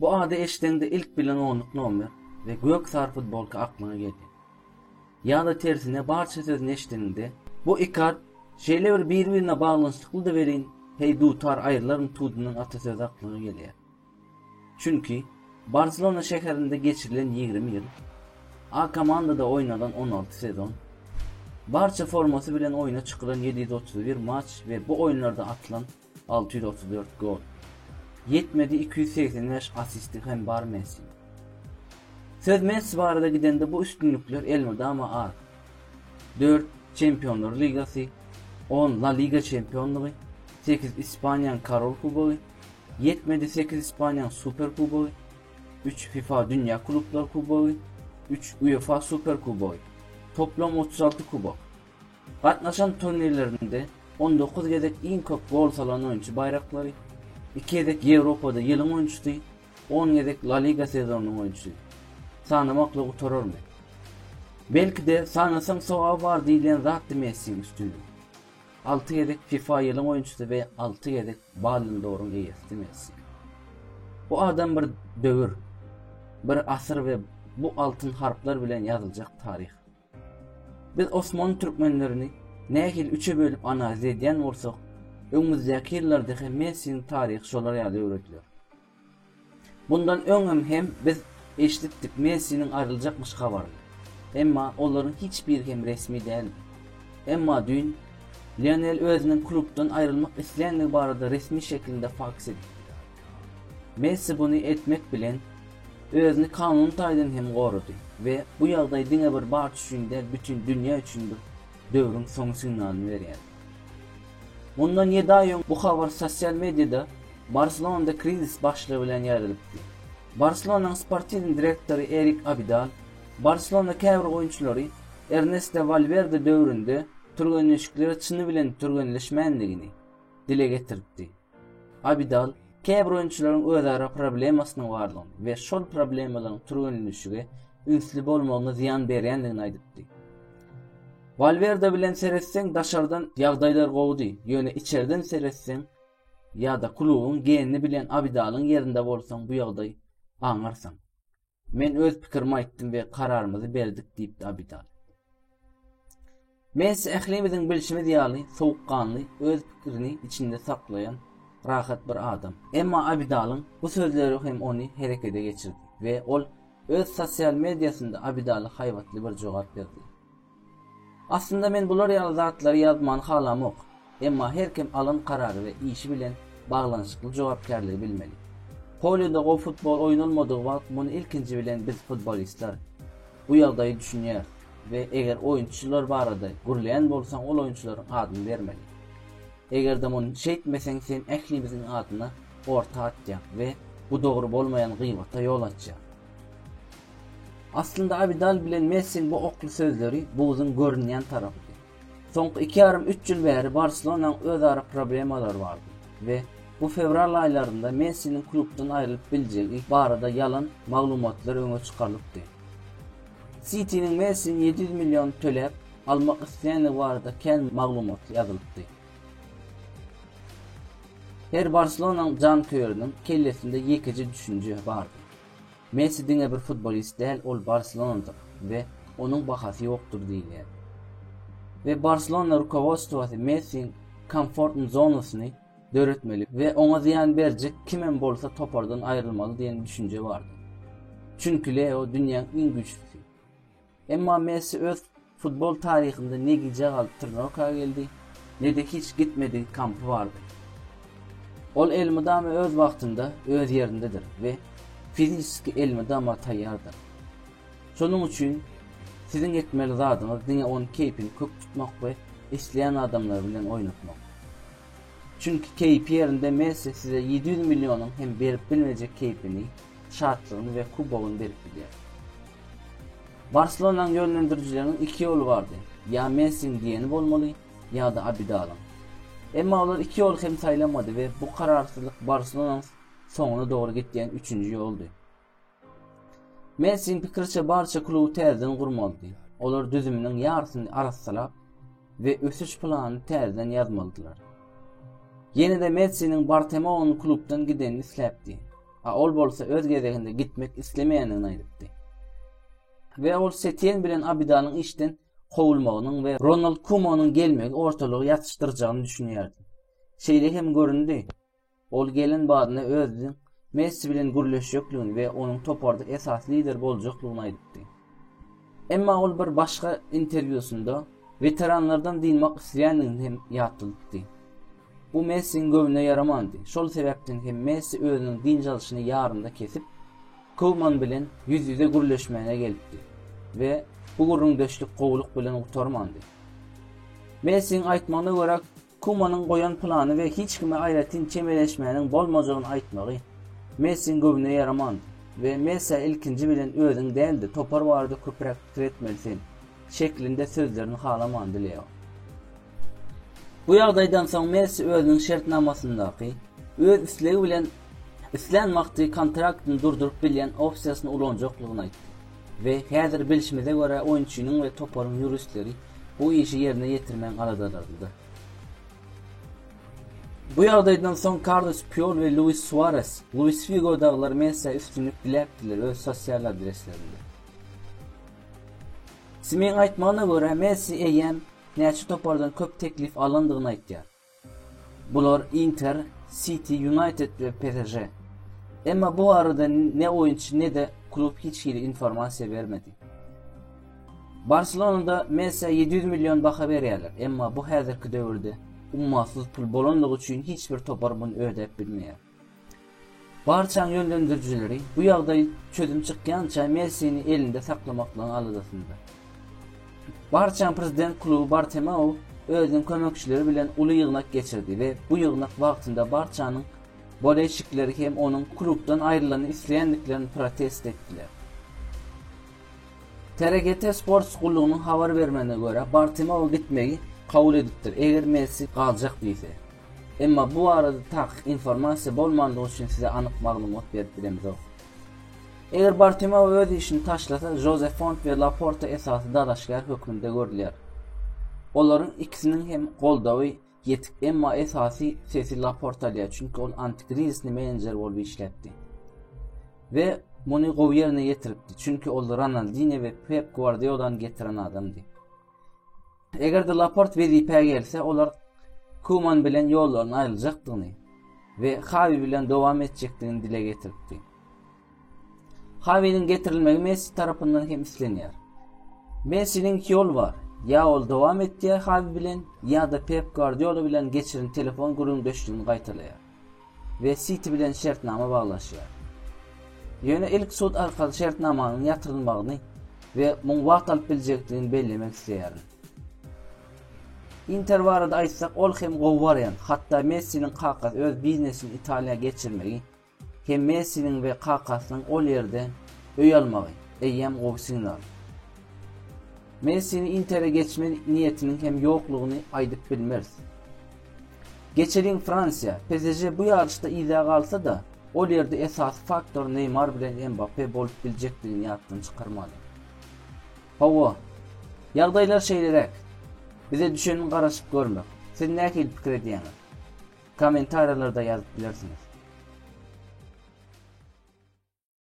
Bu ady eşdeňde ilk bilen onluk nomer we gök sary futbolka aklyňa gelýär. Ýa-da tersine barça sözüni eşdeňde, bu iki at şeýle bir bir-birine baglanyşyklydy welin, heý dutar aýrylaryn tudundan ata sözi aklyňa gelýär. Çünki Barselona şäherinde geçirilen ýigrimi ýyl, A komandada oýnalan on alty sezon, Barça formasy bilen oýna çykylan ýedi ýüz otuz bir matç we bu oýunlarda atylan Alty ýüz otuz dört gol. Ýetmedi iki ýüz segsen bäş assisti hem bar Messiniň. Söz Messi barada gidende bu üstünlikler elmydama az. Dört Çempionlar ligasy, on La Liga çempionlygy, sekiz Ispaniýanyň Korol kubogy, ýetmedi sekiz Ispaniýanyň Super kubogy, üç fifa Dünýä klublar kubogy, üç UEFA Super kubogy. Toplam otuz alty kubok. Gatnaşan turnirlerinde on dokuz gezek iň köp gol salan oýunçy baýraklary, iki gezek Ýewropada ýylyň oýunçysy, on gezek La Liga sezonynyň oýunçysy. Sanamakly gutararmy? Belki-de, sanasaň sogaby bar diýilýän zatdy Messiň üstünligi. Alty gezek fifa ýylyň oýunçysy we alty gezek Ballon d'Oryň eýesidi Messi. Bu adam bir döwür, bir asyr we bu altyn harplar bilen ýazyljak taryh. Biz osmanly türkmenlerini nähili üçe bölüp analiz edýän bolsak, öňümizdäki ýyllarda hem Mersiň taryhy şolar ýaly öwrediler. Bundan öňem hem biz eşidipdik Mersiniň aýryljakmyş habaryny. Emma olaryň hiç biri hem resmi däldi. Emma düýn Lionel özüniň klubdan aýrylmak isleýändigi barada resmi şekilde faks edipdi. Messi muny etmek bilen, özüni kanun taýdan hem gorady we bu ýagdaý diňe bir Barça üçin däl, bütin dünýä üçin bir döwrüň soňy signalyny berýär. Mundan ýedi aý öň bu habar sosial mediada Barselonada krizis başlygy bilen ýaýralypdy. Barselonanyň sportiw direktory Erik Abidal, Barselona käbir oýunçylary Ernesto Walwerde döwründe türgenleşiklere çyny bilen türgenleşmändigini dile getiripdi. Abidal, käbir oýunçylaryň özara problemasynyň bardygyny we şol problemalaryň türgenleşige ünsli bolmagyna zyýan berýändigini aýdypdy. Walwerde bilen seretseň, daşardan ýagdaýlar gowudy, ýöne içerden seretseň ýa-da klubuň genini bilen Abidalyň ýerinde bolsaň bu ýagdaý aňarsyň. Men öz pikirimi aýtdym we kararymyzy berdik diýipdi Abidal. Messi ählimiziň bilşimiz ýaly sowukganly, öz pikirini içinde saklaýan, rahat bir adam. Emma Abidalyň bu sözleri hem ony herekete geçirdi we ol öz sosial mediasynda Abidaly haýbatly bir jogap berdi. Aslynda men bular ýaly zatlary ýazmany halamok. Emma her kim alan karary we işi bilen baglanyşykly jogapkärligi bilmeli. Polýada gowy futbol oýnalmadygy wagt muny ilkinji bilen biz futbolistler bu ýagdaýy düşünýäris we eger oýunçylar barada gürleýän bolsaň ol oýunçylaryň adyny bermeli. Egerde muny şeýtmeseň sen ählimiziň adyna orta atýaň we bu dogry bolmaýan gybata ýol açýaň. Aslynda Abidal bilen Messiň bu okly sözleri buzuň görünýän tarapydy. Soňky iki ýarym üç ýyl bäri Barselonanyň özara problemalary bardy we bu fewral aýlarynda Messiniň klubdan aýrylyp biljegi barada ýalan maglumatlar öňe çykarylypdy. Sitiniň Messini ýedi ýüz million töläp almak isleýändigi barada kän maglumat ýazylypdy. Her Barselonanyň janköýeriniň kellesinde ýekeje düşünje bardy. Messi diňe bir futbolist däl, ol barselonadyr we onuň bahasy ýokdur diýilýär. We Barselona rukowodstwosy Messiň komfortn zonasyny döretmeli we oňa zyýan berjek kimem bolsa topardan aýrylmaly diýen düşünje bardy. Çünki Leo dünýäň iň güýçlüsi. Emma Messi öz futbol taryhynda ne gijä galyp Trnawka geldi, ne-de hiç gitmediň kampy bardy. Ol elmydama öz wagtynda, öz ýerindedir we fizisiki elmydama taýýardyr. Şonuň üçin siziň etmeli zadyňyz diňe onuň keýpini kök tutmak we isleýän adamlary bilen oýnatmak. Çünki keýpi ýerinde Messi size ýedi ýüz millionyň hem berip bilmejek keýpini şatlygyny we kubogyny berip bilýär. Barselonaň ýönlendirijileriniň iki ýoly bardy, ýa Messiň diýeni bolmaly, ýa-da Abidalyň. Emma olar iki ýoly hem saýlamady we bu kararsyzlyk Barselonanyň soňuna dogry gidýän üçünji ýoldy. Messiň pikiriçe barça kluby täzeden gurmalydy. Olar düzüminiň ýarysyny arassalap we ösüş planyny täzeden ýazmalydylar. Ýene-de Messiniň Bartemeonyň klubdan gidenini isläpdi. A ol bolsa öz gezeginde gitmek islemeýändigini aýdypdy. We ol Setien bilen Abidanyň işden kowulmagynyň we Ronald Kumonyň gelmegi ortalygy ýatyşdyrjagyny düşünýärdi. Şeýle hem göründi. Ol gelen badyna özüniň Messi bilen gürleşjekligini we onuň toparda esasy lider boljaklygyny aýdypdy. Emma ol bir başga interwýusynda weteranlardan dynmak isleýändigini hem ýatladypdy. Bu Messiň göwnüne ýaramandy, şol sebäpden hem Messi özüniň dynç alşyny ýarynda kesip, Kouman bilen ýüz-ýüze gürleşmäne gelipdi we bu gürrüňdeşlik gowulyk bilen gutarmandy. Messiň aýtmagyna görä, Kumanyň goýan plany we hiç kime aýratyn çemeleşmäniň bolmajagyny aýtmagy Messiniň göwnüne ýaraman we Messiä ilkinji bilen özüň däl-de, topar barada köpräk pikir etmeli sen şeklinde sözlerini halamandy Leo. Bu ýagdaýdan soň Messi özüniň şertnamasyndaky, öz islegi bilen islän wagty kontraktyn durduryp bilýän opsiýasyny ulanjaklygyny aýtdy. We häzir bilşimize görä oýunçynyň we toparyň ýuristleri bu işi ýerine ýetirmäň aladalarynda. Bu ýagdaýdan soň Karlos Pýol we Luis Suares, Luis Figo dagylar Messä üstünlik diläpdiler öz sosial adreslerinde. Simiň aýtmagyna görä Messi eýýäm näçe topardan köp teklif alandygyny aýtýar. Bular Inter, Siti, Ýunaýted we PSŽ. Emma bu barada ne oýunçy, ne-de klub hiç hili informasiýa bermedi. Barselonada Messä ýedi ýüz million baha berýärler, emma bu häzirki döwürde ummasyz pul bolanlygy üçin hiç bir topar muny ödäp bilmeýär. Barçanyň ýönlendirijileri bu ýagdaý çözüm çykýança Messini elinde saklamaklygyň aladasynda. Barçanyň prezident kluby Bartomeu özüniň kömekçileri bilen uly ýygnak geçirdi we bu ýygnak wagtynda Barçanyň boleýşikleri hem onuň klubdan aýrylanyny isleýändiklerini protest etdiler. TRGT Sports gullugynyň habar bermegine görä, Bartomeu gitmegi kabul edipdir, eger Messi galjak diýse. Emma bu barada takyk informasiýa bolmandygy üçin size anyk maglumat berip bilemzok. Eger Bartomeu öz işini taşlasa, Žoze Font we Laporta esasy dalaşgär hökmünde görülýär. Olaryň ikisiniň hem goldawy ýetik, emma esasy sesi Laporta alýar, çünki ol antikrizisli menejer bolup işläpdi. We muny gowy ýerine ýetiripdi, çünki ol Ronaldinýo we Pep Gwardiolany getiren adamdy. Eger-de Laport wezipä gelse, olar Kuman bilen ýollaryny aýryljakdygyny we Hawi bilen dowam etjekdigini dile getiripdi. Hawiniň getirilmegi Messi tarapyndan hem islenýär. Messiniň iki ýoly bar, ýa ol dowam etýär Hawi bilen, ýa-da Pep Guardiola bilen geçiren telefon gürrüňdeşligini gaýtalaýar. we Siti bilen şertnama baglaşýar. Ýöne ilk sud arkaly şertnamanyň ýatyrylmagyny we muň wagt alyp biljekdigini bellemek isleýärin. Inter barada aýtsak, ol hem gowy wariant, hatda Messiniň kakasy öz biznesini Italiýa geçirmegi hem Messiniň we kakasynyň ol ýerde öý almagy eýýäm gowy signal. Messini Intere geçme niýetiniň hem ýoklugyny aýdyp bilmeris. Geçelin Fransiýa, PSŽ bu ýaryşda yza galsa-da, ol ýerde esasy faktor Neýmar bilen Mbappe bolup biljekdigini ýatdan çykarmaly. Hawa, ýagdaýlar şeýleräk. Bize düşeniň garaşyp görmek. Siz nähili pikir edýäňiz? Kommentariýalarda ýazyp bilersiňiz.